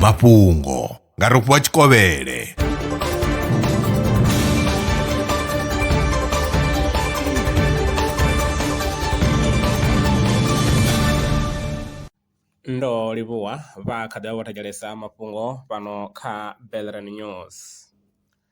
mafhungo nga rofhiwa tshikovhele ndo livhuwa vha kha ḓi vha vho thetshelesa mafhungo fhano kha Belrand News.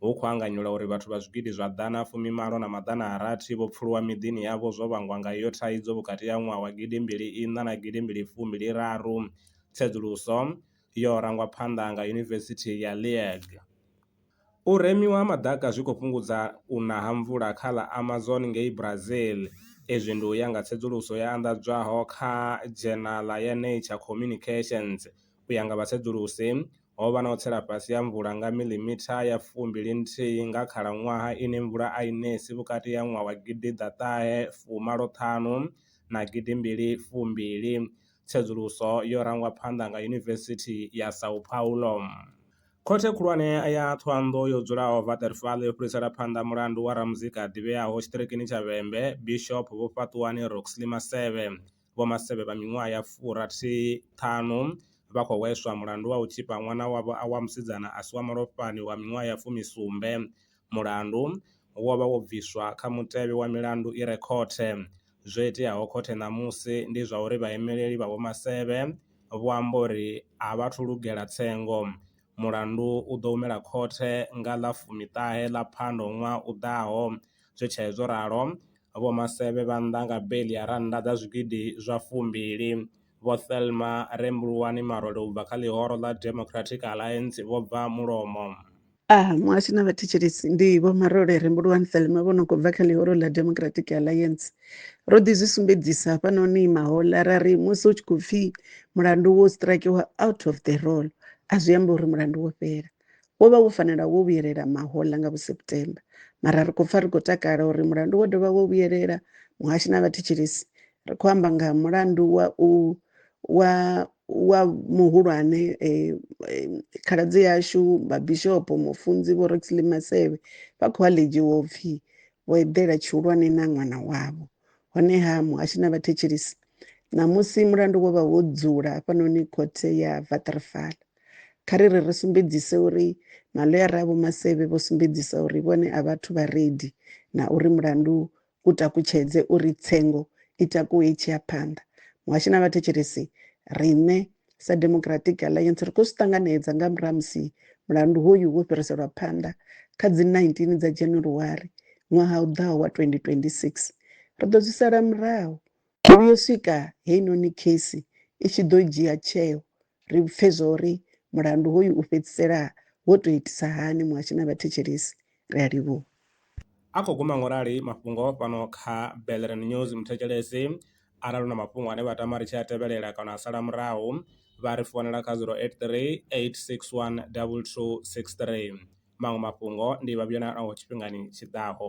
hu khou anganyelwa uri vhathu vha zwigidi zwa ḓana a fumi malo na maḓana a rathi vho pfuluwa miḓini yavho zwo vhangwa nga iyo thaidzo vhukati ha ṅwaha wa gidi mbili iṋa na gidi mbili fumbi-li raru. Tsedzuluso yo rangwa phanḓa nga Yunivesithi ya Liege. U remiwa ha maḓaka zwi khou fhungudza u na ha mvula kha ḽa Amazon ngei Brazil. Izwi ndi u ya nga tsedzuluso yo anḓadzwaho kha dzhenala ya Nature Communications. U ya nga vhatsedzulusi, ho vha na u tsela fhasi ha mvula nga miḽimitha ya fumbili nthihi nga khalaṅwaha ine mvula a i nesi vhukati ha ṅwaha wa gidi ḓa ṱahe fu malo ṱhanu na gidi mbili fu mbili, tsedzuluso yo rangwa phanḓa nga Yunivesithi ya São Paulo. Khothe Khulwane ya Thohoyandou yo dzulaho Waterval yo fhirisela phanḓa mulandu wa ramuzika a ḓivheaho tshiṱirikini tsha Vhembe, Bishop Vhofhaṱuwani Roxley Maseve. Vho Masebe vha miṅwaha ya furathi ṱhanu vha khou hweswa mulandu wa u tzhipa ṅwana wavho wa musidzana a si wa malofhani wa miṅwaha ya fumi sumbe. Mulandu wo vha wo bviswa kha mutevhe wa milandu i re khothe. Zwo iteaho khothe ṋamusi ndi zwa uri vhaemeleli vha Vho Masebe vho amba uri a vha thu lugela tsengo. Mulandu u ḓo humela khothe nga ḽa fumi ṱahe ḽa Phando ṅwaha u ḓaho. Zwi tshee zwo ralo, Vho Masevhe vha nnḓa nga beiḽi ya rannda dza zwigidi zwa fumbili. Vho Thelma Rembuluwani Marole u bva kha ḽihoro ḽa Democratic Alliance vho bva mulomo. A muhasho na vhathetshelesi ndi Vho Marole Rembuluwani Thelma vho no khou bva kha ḽihoro ḽa Democratic Alliance. Ro ḓi zwi sumbedzisa hafhanoni mahoḽa ra ri musi hu tshi khou pfi mulandu wo strikewa out of the roll a zwi ambi uri mulandu wo fhela. wo vha wo fanela wo vhuyelela mahoḽa nga vhuseptemba mara ri khou pfa ri khou takala uri mulandu wo dovha wo vhuyelela muhashi na vhathetshelesi ri khou amba nga mulandu wa u wa wa muhulwane eh, eh, khaladzi yashu vhabishopo mufunzi vho roxley masevhe vha khou aledzhi wo pfhi vho eḓela tshihulwane na ṅwana wavho honeha muhashi na vhathetshelesi ṋamusi mulandu wo vha wo dzula hafhanoni khothe ya vatrfala Kha ri ri ri sumbedzise uri maḽoyara a Vho Maseve vho sumbedzisa uri vhone a vhathu vha redi na uri mulandu u takutshedze uri tsengo i takuwe i tshi ya phanḓa. Muhashi na vhathetshelesi, riṋe sa Democratic Alliance ri khou zwi ṱanganedza nga murahu ha musi mulandu hoyu wo fhiriselwa phanḓa kha dzi 19 dza January ṅwaha u ḓaho wa 2026. Ri ḓo zwi sala murahu U vhuya u swika heinoni kheisi i tshi ḓo dzhia tsheo ri pfe zwa uri mulandu hoyu u fhedzisela wo tou itisa hani muhashi na vhathetshelesi. Ri a livhuha. A khou guma ngo rali mafhungo fhano kha Bellerin News. Muthetshelesi arali u na mafhungo ane vha tama ri tshi a tevhelela kana a sala murahu, vha ri founela kha 0838612263. Maṅwe mafhungo ndi vha vhuyela naho tshifhingani tshi ḓaho.